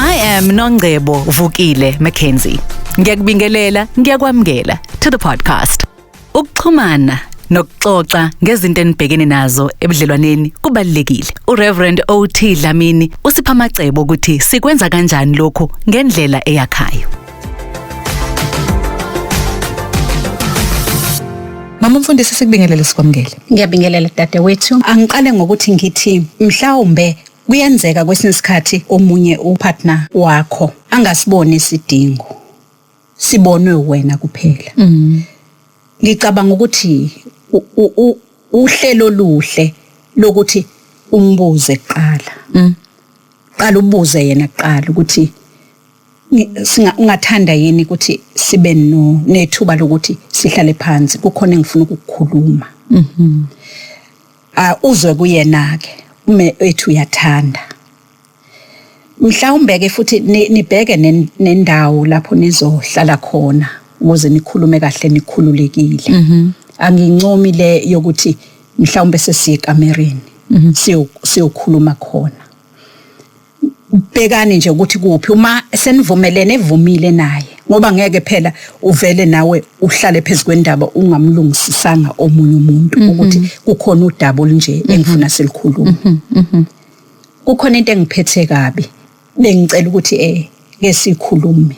I am Nongcebo Vukile Mackenzie. Ngiyakubingelela, ngiyakwamukela to the podcast. Ukuxhumana nokuxoxa ngezinto enibhekene nazo ebudlelwaneni kubalekile. UReverend OT Dlamini usipha amacebo ukuthi sikwenza kanjani lokhu ngendlela eyakhayo. Mama mfundisi sikubingelele sikwamukele. Ngiyabingelela dadewethu. Angiqale ngokuthi ngithi mhlawumbe kuyenzeka kwesinye isikhathi omunye upartner wakho angasiboni isidingo. Sibonwe wena kuphela. Mm. Ngicabanga ukuthi u- u- u- uhlelo oluhle lokuthi umbuze kuqala. Mm. Qala ubuze yena kuqala ukuthi ungathanda yini ukuthi sibe no nethuba lokuthi sihlale phansi kukhona engifuna ukukukhuluma mhm ah uzwe kuyena ke ume ethu uyathanda mhlawumbe ke futhi nibheke nendawo lapho nizohlala khona ukuze nikhulume kahle nikhululekile mhm angincomi le yokuthi mhlawumbe sesiye kamereni mhm. siyokhuluma khona bhekani nje ukuthi kuphi uma senivumelene evumile naye ngoba ngeke phela uvele nawe uhlale phezu kwendaba ungamlungisisanga omunye umuntu mhm. ukuthi kukhona udaba olunje mhm. engifuna silikhuluma mhm, kukhona into engiphethe kabi bengicela ukuthi eh ke sikhulume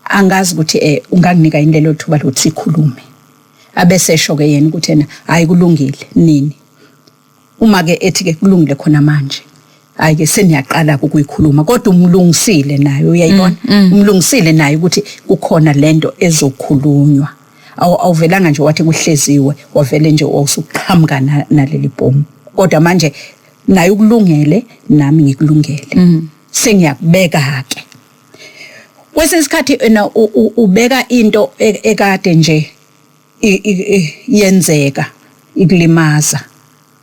angazi ukuthi eh unganginika yini lelo thuba lokuthi sikhulume abese esho ke yena ukuthi yena hayi kulungile nini Uma ke ethi ke kulungile khona manje. Hayi ke seniyaqala ukuyikhuluma kodwa umlungisile naye uyayibona. Mm, mm. Umlungisile naye ukuthi kukhona lento ezokhulunywa. Awu awuvelanga nje wathi kuhleziwe wavele nje wawusuqhamuka naleli bhomu. Kodwa manje naye ukulungele nami ngikulungele. Mm. Sengiyakubeka ke. Kwesinye isikhathi ena ubeka into e, ekade nje i- i- i- yenzeka ikulimaza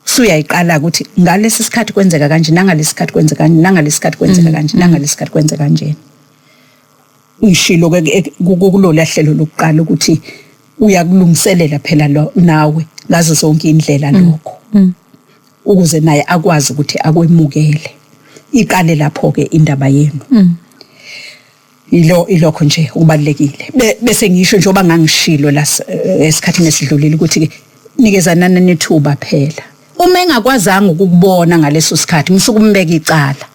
suyayiqala ukuthi ngalesi sikhathi kwenzeka kanje nangalesi sikhathi kwenzeka kanje nangalesi sikhathi kwenzeka kanje nangalesi sikhathi kwenzeka kanje uyishilo ke ke- ku- ku- kulola hlelo lokuqala ukuthi uyakulungiselela phela lo nawe ngazo zonke indlela lokho ukuze naye akwazi ukuthi akwemukele iqale lapho ke indaba yenu Ilo ilokho nje okubalekile. Be, bese ngisho njengoba ngangishilo la eh, esikhathini esidlulile ukuthi ke nikezanana nethuba phela. Uma engakwazanga ukukubona ngaleso sikhathi musuku umbeka icala.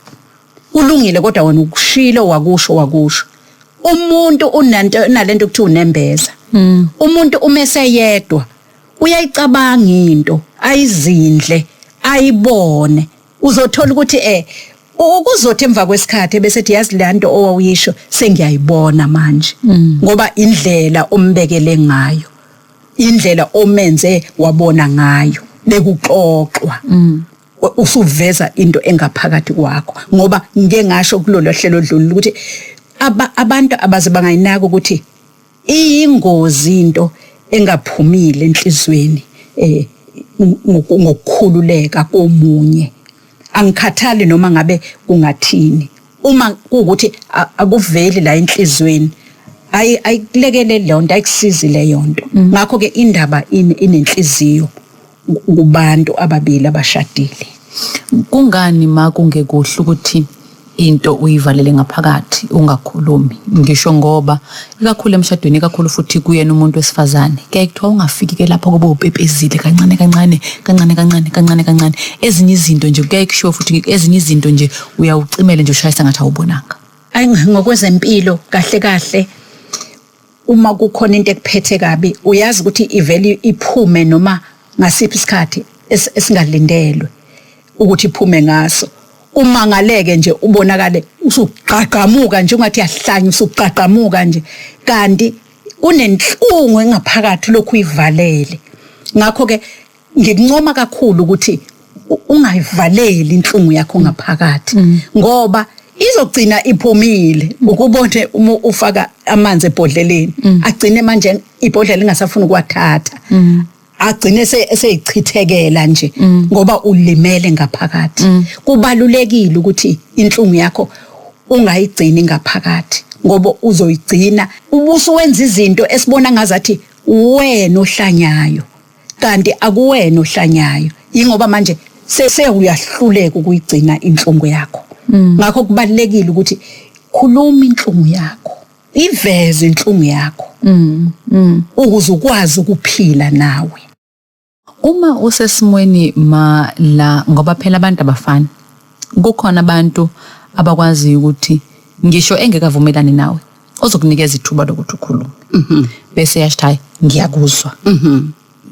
Kulungile kodwa wena ukushilo wakusho wakusho. Umuntu unanto nalento kuthi unembeza. Hmm. Umuntu uma eseyedwa uyayicabanga into ayizindle ayibone uzothola ukuthi eh u- kuzothi emva kwesikhathi ebesethi yazi le nto owawuyisho sengiyayibona manje ngoba indlela ombekele ngayo indlela omenze wabona ngayo bekuxoxwa U- usuveza into engaphakathi kwakho ngoba ngike ngasho kulolu hlelo odlulile ukuthi aba- abantu abaze bangayinaki ukuthi iyingozi into engaphumile enhlizweni eh ngokukhululeka komunye angikhathali noma ngabe kungathini uma kuwukuthi akuveli la enhlizweni ayi ayikulekeleli leyo nto ayikusizi leyo nto mm. ngakho-ke indaba inenhliziyo kubantu ababili abashadile. Kungani ma kungekuhle ukuthi into uyivalele ngaphakathi ungakhulumi ngisho ngoba ikakhulu emshadweni ikakhulu futhi kuyena umuntu wesifazane kuyaye kuthiwa ungafiki ke lapho kube upepezile kancane kancane kancane kancane kancane kancane ezinye izinto nje kuyaye kushiwo futhi ezinye izinto nje uyawucimele nje ushayisa ngathi awubonanga ayi ngokwezempilo kahle kahle uma kukhona into ekuphethe kabi uyazi ukuthi ivele iphume noma ngasiphi isikhathi es- esingalindelwe ukuthi iphume ngaso umangaleke nje ubonakale usugqagqamuka nje ungathi yahlanya usugqagqamuka nje kanti unenhlungu engaphakathi lokhu uyivalele ngakho ke ngikuncoma kakhulu ukuthi u- ungayivaleli inhlungu yakho ngaphakathi ngoba izogcina iphumile ukubone uma ufaka amanzi ebhodleleni agcine manje ibhodlela ingasafuni ukuwathatha agcine se- seyichithekela nje ngoba ulimele ngaphakathi kubalulekile ukuthi inhlungu yakho ungayigcini ngaphakathi ngoba uzoyigcina ubusuwenza izinto esibona ngazathi wena ohlanyayo kanti akuwena ohlanyayo ingoba manje sese uyahluleka ukuyigcina inhlungu yakho mm. ngakho kubalekile ukuthi khuluma inhlungu yakho iveze inhlungu yakho mm, mm. ukuze ukwazi ukuphila nawe uma usesimweni ma la ngoba phela abantu abafani kukhona abantu abakwazi ukuthi ngisho engekavumelani nawe ozokunikeza ithuba lokuthi ukhulume mhm. bese yasho hayi ngiyakuzwa mhm.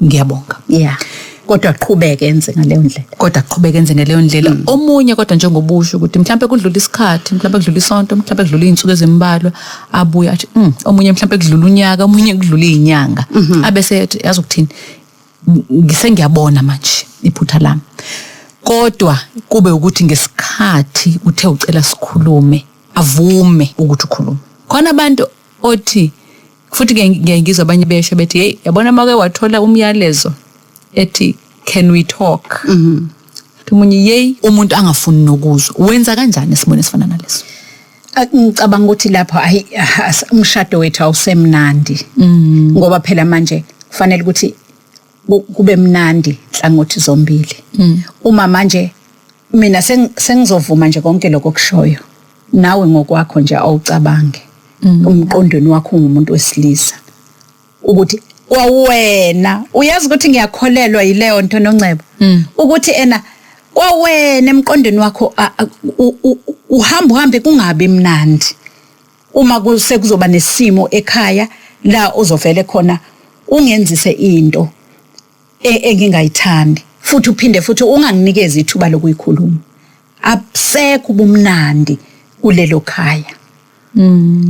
ngiyabonga yeah kodwa aqhubeke enze ngaleyo ndlela kodwa aqhubeke enze ngaleyo ndlela mm. omunye kodwa njengobusho ukuthi mhlawumbe kudlula isikhathi mhlawumbe kudlula isonto mhlawumbe kudlula izinsuku ezimbalwa abuye athi mm, omunye mhlawumbe kudlula unyaka omunye kudlula izinyanga mhm. abese ethi yazi ukuthini ngisengiyabona manje iphutha lami kodwa kube ukuthi ngesikhathi uthe ucela sikhulume avume ukuthi ukhuluma khona abantu othi futhi ke ngiye ngizwa abanye besho bethi hey yabona make wathola umyalezo ethi can we talk mhm umunye yey umuntu angafuni nokuzwa wenza kanjani esimweni esifana naleso Ah, ngicabanga ukuthi lapho ayi ah, as- umshado wethu awusemnandi Mm. ngoba phela manje kufanele ukuthi ku- kube mnandi hlangothi zombili Mm. uma manje mina seng- sengizovuma nje konke lokho okushoyo nawe ngokwakho nje awucabange umqondweni wakho ungumuntu wesilisa ukuthi kwawena uyazi ukuthi ngiyakholelwa yileyo nto nongcebo ukuthi ena kwawena emqondweni wakho a- a- u- u- u- uhamba uhambe kungabi mnandi uma kuse kuzoba nesimo ekhaya la uzovele khona ungenzise into e- engingayithandi futhi uphinde futhi unganginikezi ithuba lokuyikhuluma abusekho ubumnandi kulelo khaya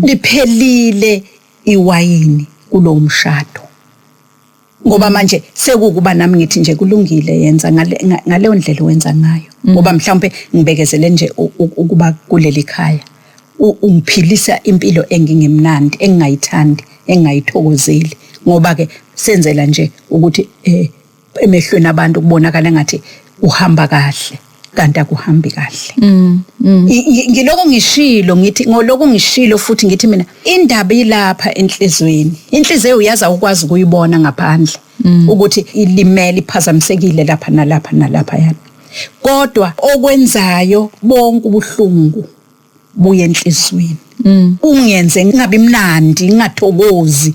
liphelile iwayini kulowo mshado ngoba manje sekukuba nami ngithi nje kulungile yenza ngale- nga- ngaleyo ndlela owenza ngayo ngoba mhlawumbe ngibekezele nje u- u- ukuba kuleli khaya ungiphilisa impilo engingemnandi engingayithandi engingayithokozeli ngoba ke senzela nje ukuthi eh emehlweni abantu kubonakala ngathi uhamba kahle kanti akuhambi kahle mm, mm. ngiloko ngishilo ngithi ngoloko ngishilo futhi ngithi mina indaba ilapha enhlizweni inhliziyo uyaza ukwazi ukuyibona ngaphandle mm. ukuthi ilimele iphazamisekile lapha nalapha nalapha yana kodwa okwenzayo bonke ubuhlungu buye enhlizweni mm. ungenze ngingabi mnandi ngingathokozi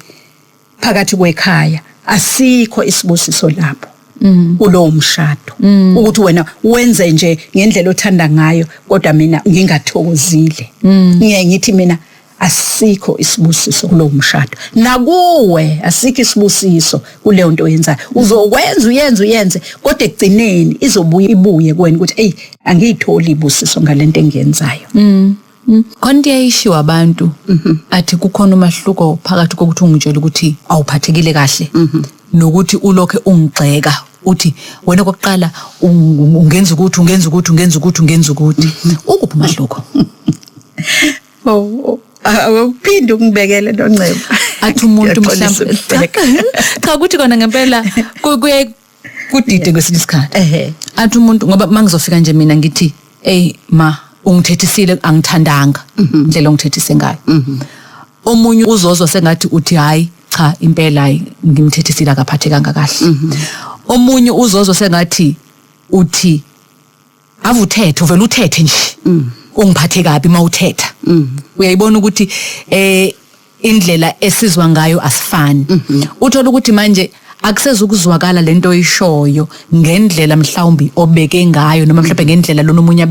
phakathi kwekhaya asikho isibusiso lapho mm. kulowo mshado mm. ukuthi wena wenze nje ngendlela othanda ngayo kodwa mina ngingathokozile ngiye ngithi mina asikho isibusiso kulowo mshado nakuwe asikho isibusiso kuleyo nto oyenzayo uzokwenza uyenze uyenze kodwa ekugcineni izobuye ibuye kuwena ukuthi eyi angiyitholi ibusiso ngale nto engiyenzayo khona into eyayishiwo abantu athi kukhona umahluko phakathi kokuthi ungitshela ukuthi awuphathekile kahle nokuthi ulokhe ungigxeka uthi wena kokuqala ungenza ukuthi ungenza ukuthi ungenza ukuthi ungenza ukuthi ukuphi umahluko Oh, awuphinde ukungibekele nongcebo. Athi umuntu Ngiyaxolisa mhlawumbe cha ukubheka. cha ukuthi kona ngempela ku- kuye kudide kwesinye isikhathi. Ehhe. Athi umuntu ngoba mangizofika nje mina ngithi hey ma ungithethisile angithandanga indlela ongithethise ngayo. Omunye uzozwa sengathi uthi hayi cha impela hayi ngimthethisile akaphathekanga kahle. Omunye uzozwa sengathi uthi ave uthethe uvele uthethe nje mm. ungiphathe kabi uma uthetha mm. uyayibona ukuthi eh indlela esizwa ngayo asifani mm-hmm. uthola ukuthi manje akusezukuzwakala lento oyishoyo ngendlela mhlawumbi obeke ngayo noma mhlawumbe ngendlela lona umunye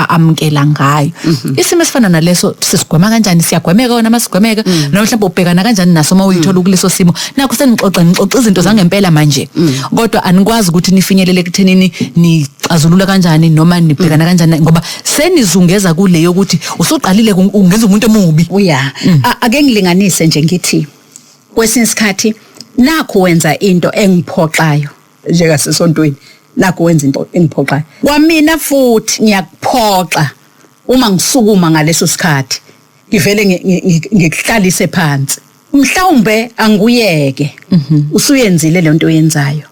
amkela ngayo mhm. isimo esifana naleso sisigwema kanjani siyagwemeka wona masigwemeka mhm. noma mhlawumbe ubhekana kanjani naso uma uyithola ukuleso simo nakho senixoxa nixoxa izinto zangempela manje mm. kodwa anikwazi ukuthi nifinyelele kuthenini nixazulula kanjani noma nibhekana mm. kanjani ngoba senizungeza kule yokuthi usuqalile ungenza umuntu omubi uya mm. ake ngilinganise nje ngithi kwesinye isikhathi nakho wenza into engiphoxayo njeka sesontweni nakho wenza into engiphoxayo kwamina futhi ngiyakuphoxa uma ngisukuma ngaleso sikhathi ngivele ngikuhlalise phansi mhlawumbe anguyeke usuyenzile lento oyenzayo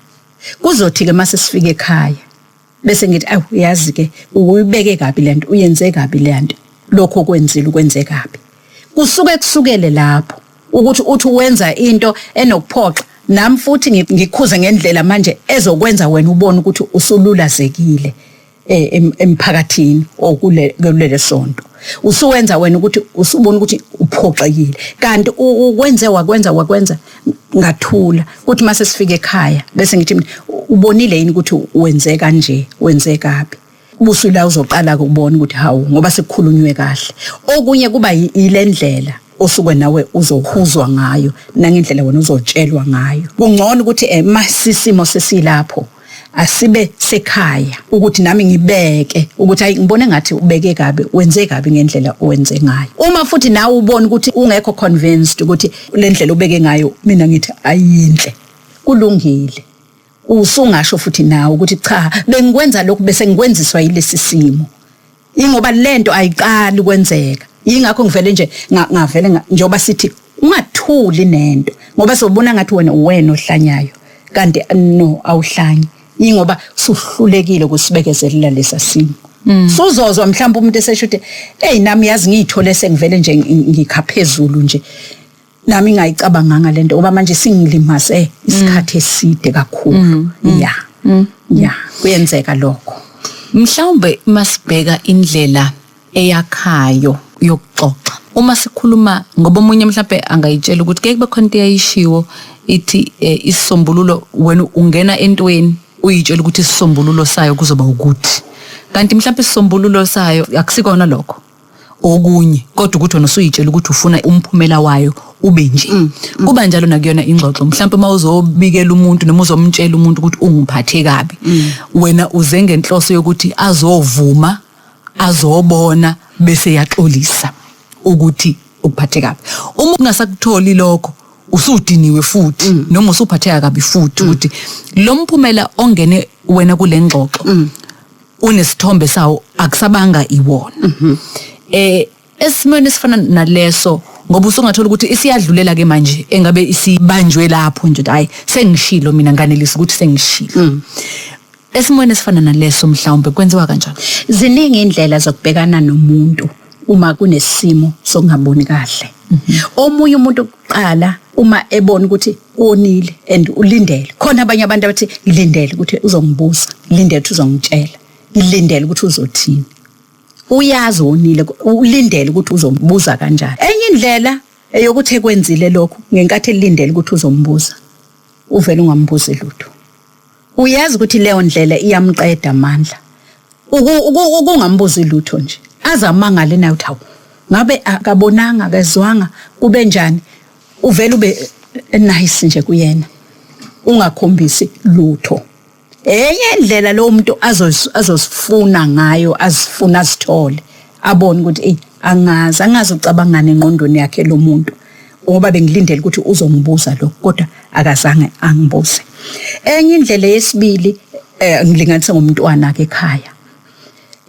kuzothi ke mase sifike ekhaya bese ngithi awu yazi ke uyibeke kabi lento uyenze kabi lento lokho kwenzile ukwenze kabi kusuke kusukele lapho ukuthi uthi wenza into enokuphoxa nami futhi ngi- ngikhuze ngendlela manje ezokwenza wena ubone ukuthi usululazekile eh, em- emphakathini or kule- kulele sonto usuwenza wena ukuthi usubona ukuthi uphoxekile kanti u- ukwenze wakwenza wakwenza ngathula kuthi mase sifika ekhaya bese ngithi mina, "U- ubonile yini ukuthi wenze kanje wenze kabi busu la uzoqala ukubona ukuthi hawu ngoba sekukhulunywe kahle okunye kuba yi- yilendlela osuke nawe uzohuzwa ngayo nangendlela wena uzotshelwa ngayo kungcono ukuthi eh masisimo sesilapho asibe sekhaya ukuthi nami ngibeke ukuthi hayi ngibone ngathi ubeke kabi wenze kabi ngendlela owenze ngayo uma futhi nawe ubona ukuthi ungekho convinced ukuthi le ndlela ubeke ngayo mina ngithi ayinhle kulungile usungasho futhi nawe ukuthi cha bengikwenza lokhu bese ngikwenziswa yilesi simo ingoba lento ayiqali kwenzeka ingakho ngivele nje nga- ngavele nga- njengoba sithi ungathuli nento ngoba sobona ngathi wena uwena ohlanyayo kanti no awuhlanyi ingoba suhlulekile kusibekezelela lesa simo suzozwa mhlawumbe umuntu esesho ukuthi eyi nami yazi ngiyithole sengivele nje ngi- ngikha phezulu nje nami ngayicabanganga lento ngoba manje singilimaze isikhathi eside kakhulu ya ya kuyenzeka lokho mhlawumbe masibheka indlela eyakhayo yokuxoxa uma sikhuluma ngoba omunye mhlawumbe angayitshela ukuthi ke kube khona into eyayishiwo ithi eh, isisombululo wena ungena entweni uyitshela ukuthi isisombululo sayo kuzoba ukuthi kanti mhlawumbe isisombululo sayo akusikona lokho okunye kodwa ukuthi wena usuyitshela ukuthi ufuna umphumela wayo ube nje mm, mm. kuba njalo nakuyona ingxoxo mhlawumbe uma uzobikela umuntu noma uzomtshela umuntu ukuthi ungiphathe kabi mm. wena uze ngenhloso yokuthi azovuma azobona bese yaxolisa ukuthi ukuphathe kabi uma ungasakutholi lokho usudiniwe futhi mm. noma usuphatheka kabi futhi mm. ukuthi lo mphumela ongene wena kulengxoxo mm. unesithombe sawo akusabanga iwona mhm. eh esimweni esifana naleso ngoba usungathola ukuthi isiyadlulela ke manje engabe isibanjwe lapho nje hayi sengishilo mina nganelisa ukuthi sengishilo mm. esimweni esifana naleso mhlawumbe kwenziwa kanjani ziningi indlela zokubhekana nomuntu uma kunesimo sokungaboni kahle mhm. omunye umuntu qala uma ebona ukuthi wonile and ulindele khona abanye abantu abathi ngilindele ukuthi uzongibuza ngilindele ukuthi uzongitshela ngilindele ukuthi uzothini uyazi wonile ulindele ukuthi uzombuza kanjani enye indlela eyokuthi ekwenzile lokhu ngenkathi elindele ukuthi uzombuza uvele ungambuzi lutho uyazi ukuthi leyo ndlela iyamqeda amandla Uku- uku- ukungambuzi lutho nje aze amangale naye ukuthi hawu ngabe akabonanga akezwanga kube njani uvele ube eh, nice nje kuyena ungakhombisi lutho enye indlela lowo muntu azoz- azozifuna ngayo azifuna azithole abone ukuthi eyi angazi angazi ucabangani engqondweni yakhe lo muntu ngoba bengilindele ukuthi uzongibuza lokho kodwa akazange angibuze enye indlela yesibili eh, ngilinganise ngomntwana ke ekhaya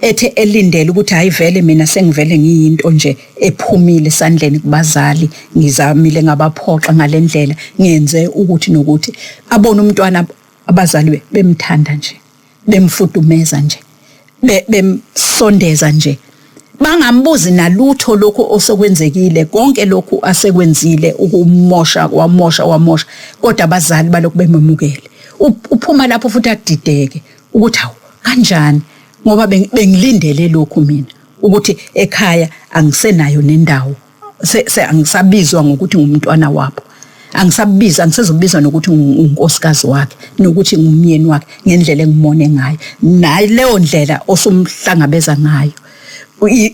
ethe elindele ukuthi hayi vele mina sengivele ngiyinto nje ephumile sandleni kubazali ngizamile ngabaphoxa ngalendlela ngenze ukuthi nokuthi abone umntwana abazali bemthanda nje bemfudumeza nje bemsondeza nje bangambuzi nalutho lokhu osokwenzekile konke lokhu asekwenzile ukumosha wamosha wamosha kodwa abazali balokhu bememukele uphuma lapho futhi adideke ukuthi hawu kanjani ngoba bengilindele lokhu mina ukuthi ekhaya angisenayo nendawo se, se angisabizwa ngokuthi ngumntwana wabo angisabiza angisezobiza nokuthi unkosikazi wakhe nokuthi ngumyeni wakhe ngendlela engimone ngayo nayi leyo ndlela osumhlangabeza ngayo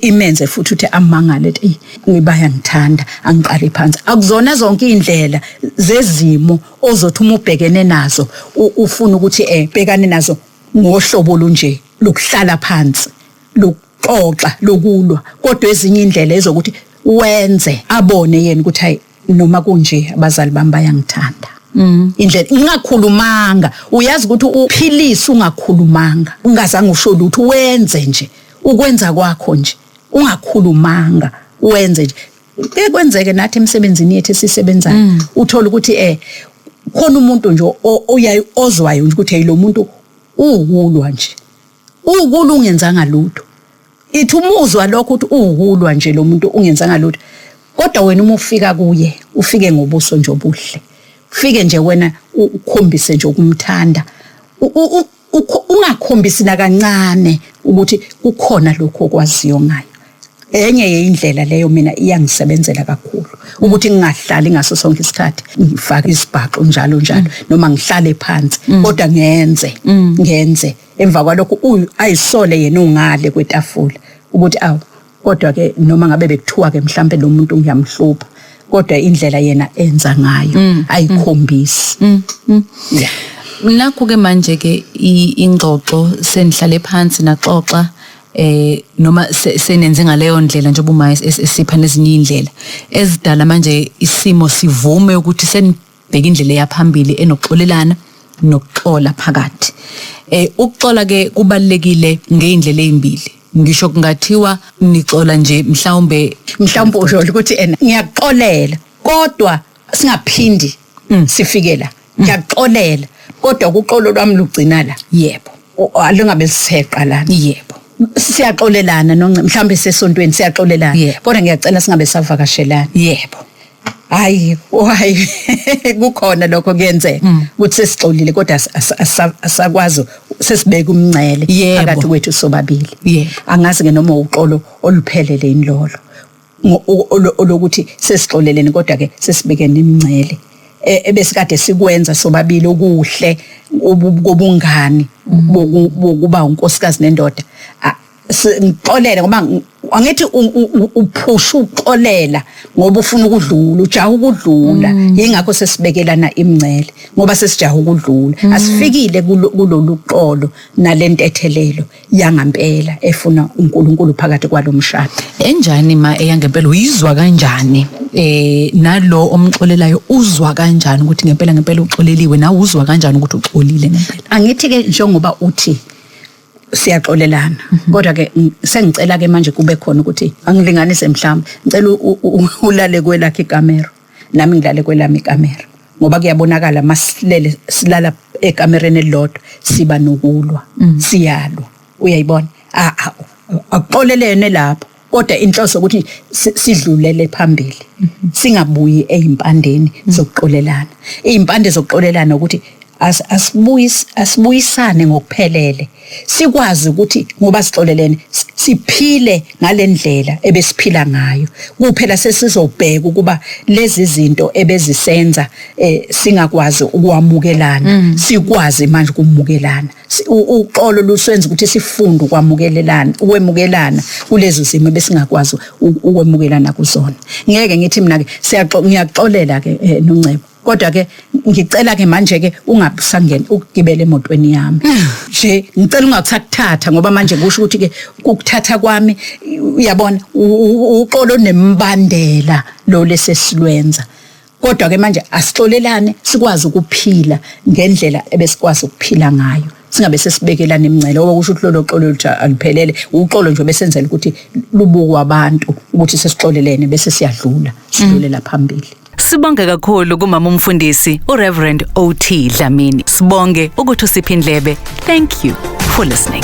imenze futhi uthi amangale ethi ngibaya ngithanda angiqali phansi akuzona zonke indlela zezimo ozothi uma ubhekene nazo ufuna ukuthi eh bhekane nazo ngohlobo olunje lokuhlala phansi xoxa lokulwa kodwa ezinye indlela ezokuthi wenze abone yena ukuthi hayi noma kunje abazali bami bayangithanda Mm. indlela ungakhulumanga uyazi ukuthi uphilisa ungakhulumanga ungazange usho lutho wenze nje ukwenza kwakho nje ungakhulumanga wenze nje ke kwenzeke nathi emsebenzini yethu esisebenzayo mm. uthola ukuthi eh khona umuntu nje oyayi ozwayo ukuthi hey lo muntu uwulwa nje Uwukulwa ungenzanga lutho. Ithi umuzwa lokho ukuthi uwukulwa nje lo muntu ungenzanga lutho. Kodwa wena uma ufika kuye, ufike ngobuso nje obuhle. Ufike nje wena ukhombise nje ukumthanda. Ungakhombisi nakancane ukuthi kukhona lokho okwaziyo ngayo. Enye yeyindlela leyo mina iyangisebenzela kakhulu ukuthi ngingahlali ngaso sonke isikhathi ngifaka isibhaxu njalo njalo noma ngihlale phansi kodwa ngenze ngenze emva kwalokho u- ayisole yena ungale kwetafula ukuthi awu kodwa ke noma ngabe bekuthiwa ke mhlambe lo muntu ngiyamhlupha kodwa indlela yena enza ngayo ayikhombisi Yeah. nakho ke manje ke i- ingxoxo senihlale phansi naxoxa eh noma se- senenze ngaleyo ndlela njengoba uma es- es- esipha nezinye indlela ezidala manje isimo sivume ukuthi seni bheka indlela eyaphambili enokuxolelana nokuxola phakathi eh ukuxola ke kubalekile ngeindlela ezimbili ngisho kungathiwa nixola nje mhlawumbe mhlawumbe usho ukuthi ena ngiyaxolela kodwa singaphindi mm. sifike la mm. ngiyaxolela kodwa ukuxolo lwami lugcina la yebo alingabe liseqa lana yebo siyaxolelana nonce mhlawumbe sesontweni siyaxolelana kodwa ngiyacela singabe savakashelana yebo hayi hayi kukhona lokho kuyenzeka mm. ukuthi sesixolile kodwa asakwazi sesibeka umncele phakathi kwethu sobabili angazi ke noma uxolo oluphelele inlolo olokuthi sesixoleleni kodwa ke sesibekene imncele e, ebesikade sikwenza sobabili okuhle kobungani mm. bokuba unkosikazi nendoda si- ngixolele ngoba ng- angithi u- u- u- uphusha ukuxolela ngoba ufuna ukudlula ujaha ukudlula yingakho sesibekelana imncele ngoba sesijaha ukudlula asifikile kulo- kulolu xolo nale ntethelelo yangampela efuna unkulunkulu phakathi kwalo mshado enjani ma eyangempela uyizwa kanjani eh nalo omxolelayo uzwa kanjani ukuthi ngempela ngempela uxoleliwe nawe uzwa kanjani ukuthi uxolile ngempela angithi-ke njengoba uthi siyaxolelana mhm. kodwa ke sengicela ke manje kube khona ukuthi angilinganise mhlawumbe ngicela ulale kwelakhe ikamera nami ngilale kwelami ikamera ngoba kuyabonakala masilele silala ekamereni elilodwa siba nokulwa mm. siyalwa uyayibona a a akuxolelene lapho kodwa inhloso ukuthi si- sidlulele phambili singabuyi ezimpandeni zokuxolelana izimpande zokuxolelana ukuthi as- asibuyis- asibuyisane ngokuphelele sikwazi ukuthi ngoba sixolelene si- siphile ngalendlela ebesiphila ngayo kuphela sesizobheka ukuba lezi zinto ebezisenza eh, singakwazi ukwamukelana sikwazi manje ukumukelana Si- u- uxolo lusenza ukuthi sifunde ukwamukelelana ukwemukelana kulezo zimo ebesingakwazi u- ukwemukelana kuzona ngeke ngithi mina ke siyaxo- ngiyaxolela ke eh, noncebo kodwa ke ngicela ke manje ke ungabusangeni ukugibela emotweni yami nje ngicela ungakusakuthatha ngoba manje kusho ukuthi ke ukuthatha kwami uyabona u- u- uxolo nemibandela lo lesesilwenza kodwa ke manje asixolelane sikwazi ukuphila ngendlela ebesikwazi ukuphila ngayo singabe sesibekelana imingcele ngoba kusho ukuthi lolo xolo oluthi aluphelele uxolo nje besenzela ukuthi lubukwe abantu ukuthi sesixolelene bese siyadlula sidlulela phambili Sibonge kakhulu kumama umfundisi uReverend OT Dlamini. Sibonge ukuthi usiphi indlebe. Thank you for listening.